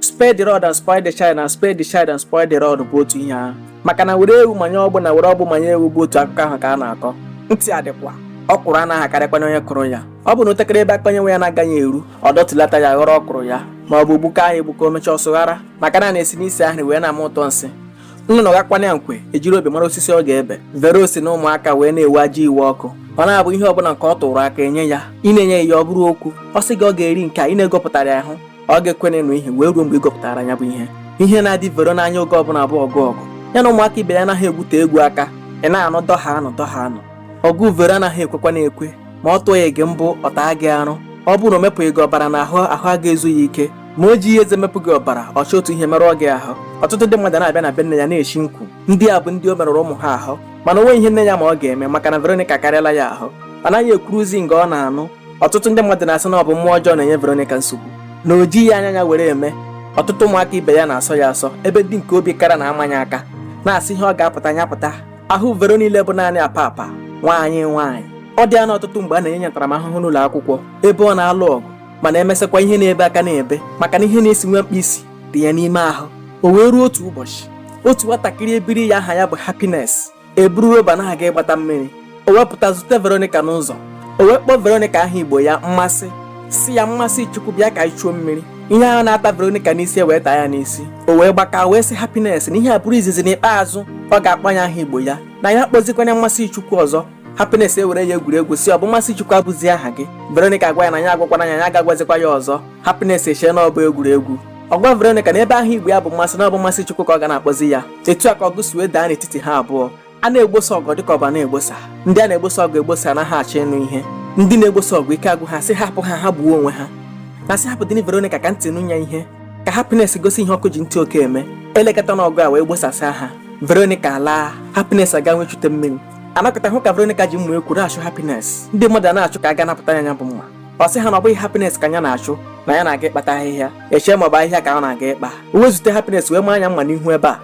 spare the rod and spoil the child and spare the child and spoil the rod bụ otu ihe ahụ maka na were ewu manye ọgbụ na were ọgbụ manye ewu bụ otu akụkọ ahụ ka a na-akọ ntị adịkwa ọkwụrụ anaghị akarịkwanye onye kụrụ ya ọ bụ na o tekara ebe aka onye nwe ya na-agaghị eru ọ dọtulata ya ghọrọ ọkwụrụ ya ma ọ bụ gbuka nya egbuka o mechaa ọ sụghara maka na na-esi n'isi ahụ wee na-ama ụtọ nsị nnụnụ gakwana nkwe ejiri obi mara osisi ọ ga-ebe vero si na ụmụaka wee na-ewe ajọ iwe ọkụ ọ na-abụ ihe ọbụla nke ọ tụrụ aka enye ya ị na-enyeghị ya ọ bụrụ okwu ọ sị gị ọ ga-eri nke a ị na-egopụtara ya ahụ ọ ga-ekwenenụ ihe wee ruo mgbe ị gopụtara ya bụ ihe ihe na-adị vero n'anya oge ọbụla bụ ọgụ ọgụ ya na ụmụaka ibe ya anaghị egwute egwu aka ị na-anụ dọha anụ dọha anụ ọgụ vero anaghị ekwekwa na-ekwe ma ọ tụghị gị mbọ ọ taa gị arụ ọ bụrụ na o mepụghị gị ọbara n'ahụ ahụ a ga-ezu ya ike ma o jighị eze mepụ gị ọbara ọ chọọ otu ihe merụọ gị ahụ ọtụtụ ndị mmadụ na-abịa na be nne ya na-eshi nkwu ndị a bụ ndị o merụrụ ụmụ ha ahụ mana o nweghị ihe nne ya ma ọ ga-eme maka na Veronica karịala ya ahụ anaghị ekwuruzi nke ọ na-anụ ọtụtụ ndị mmadụ na-asị na ọ bụ mmụọ ọjọọ na-enye Veronica nsogbu na o jighị anya ya were eme ọtụtụ ụmụaka ibe ya na-asọ ya asọ ebe ndị nke obi kara na-ama nya aka na-asị ihe ọ ga-apụta nya pụta ahụ Vero niile bụ naanị apa apa nwaanyị nwaanyị ọ dị anọ ọtụtụ mgbe a na-enye ya ntaramahụhụ n'ụlọ akwụkwọ ebe ọ na-alụ ọgụ mana emesịkwa ihe na-ebe aka na-ebe maka na ihe na-esi nwa mkpi isi dị ya n'ime ahụ o wee ruo otu ụbọchị otu nwatakịrị ebiri ya aha ya bụ Happiness eburu roba na-aga ịgbata mmiri o wee pụta zute veronica n'ụzọ o wee kpọọ veronica aha igbo ya mmasị sị ya mmasịchukwu bịa ka anyị chuo mmiri ihe ahụ na-ata veronica n'isi ewee taa ya n'isi o wee gbaka wee sị happiness na ihe a bụrụ izizi na ikpeazụ ọ ga-akpọ ya aha igbo ya na ya akpọzikwana ya mmasịchukwu ọzọ happiness ewere ya egwuregwu sị ọ bụ mmasịchukwu abụzi aha gị veronica agwa ya na ya agwakwana ya ya aga-agwazikwa ya ọzọ Happiness echee na ọ bụ egwuregwu ọ gwa Veronica na ebe aha Igbo ya bụ mmasị na ọ bụ Mmasịchukwu ka ọ ga na-akpọzi ya etu a ka ọgụ si wee daa n'etiti ha abụọ a na-egbosa ọgụ dịka ọba na-egbosa ndị a na-egbosa ọgụ egbosa anaghị achọ ịnụ ihe ndị na-egbosa ọgụ ike agwụ ha sị hapụ ha ha gbuo onwe ha na-asị hapụ dịnị Veronica ka ntị nụ ya ihe ka Happiness gosi ihe ọkụ ji ntị oke eme elekọta na ọgụ a wee gbosasịa ha Veronica alaa Happiness aga wee chute mmiri a nọkata hụ ka Veronica ji mma ekwu na-achụ Happiness ndị mmadụ a na-achụ ka a ga napụta ya nya bụ mma ọ sị ha na ọ bụghị happiness ka ya na-achụ na ya na-aga ịkpata ahịhịa e chee ma ọ bụ ahịhịa ka ọ na-aga ịkpa o wee zute happiness wee maa nya mma n'ihu ebe a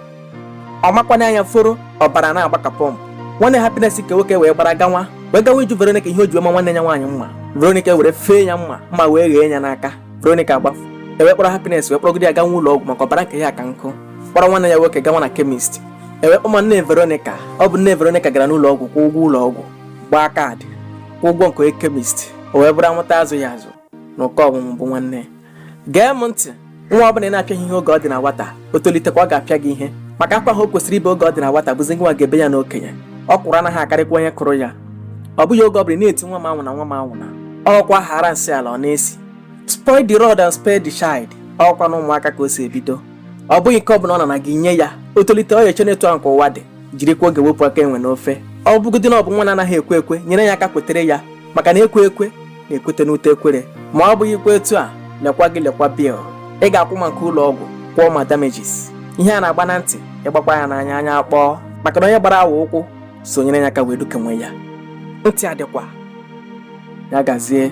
ọ makwa n'anya fọrọ ọbara na-agba ka pump nwanne happiness nke nwoke wee gbara gawa wee gawa ịjụ veronica ihe o ji maa nwanne ya nwaanyị mma veronica were fee ya mma mma wee ghee ya n'aka veronica gbafu ewee kpọrọ happiness wee kpọrọgide ya gawa ụlọ ọgwụ maka ọbara nke ya ka nkụ kpọrọ nwanne ya nwoke gawa na chemist ewee kpọma nne veronica ọ bụ nne veronica gara n'ụlọ ọgwụ kwụọ ụgwọ ụlọ ọgwụ gbaa kaadị kwụ ụgwọ nke onye kemist o wee bụrụ amụta azụghị azụ na ụkọ ọmụmụ bụ nwanne ya gee m ntị nwa ọbụla ị na-apịaghị ihe oge ọ dị na nwata o tolitekwa ọ ga-apịa gị ihe maka akwa ahụ o kwesịrị ibe oge ọ dị na nwata bụzi gị nwa ga-ebe ya n'okenye ọkwụrụ anaghị akarịkwa onye kụrụ ya ọ bụghị oge ọ bụla ị na-eti nwa m anwụna nwa m anwụna ọkwa ghara nsị ala ọ na-esi spoil the rod and spare the child ọ bụkwa n'ụmụaka ka o si ebido ọ bụghị nke ọ bụla ọ nana gị i nye ya o tolite ọ ya-eche na etu ahụ ka ụwa dị jirikwa oge wepụ aka enwe n'ofe ọ bụgodị na ọ bụ nwa na-anaghị ekwe ekwe nyere ya aka kwetere ya maka na ekwe ekwe na-ekwete n'ute ekwere ma ọ bụghị ikwe etu a lekwa gị lekwa bil ị ga-akwụ maka ụlọ ọgwụ kwụọ ma damages ihe a na-agba na ntị ị gbakwa ya n'anya anya akpọọ maka na onye gbara awọ ụkwụ so nyere ya aka wee dukenwe ya ntị adịkwa ya gazie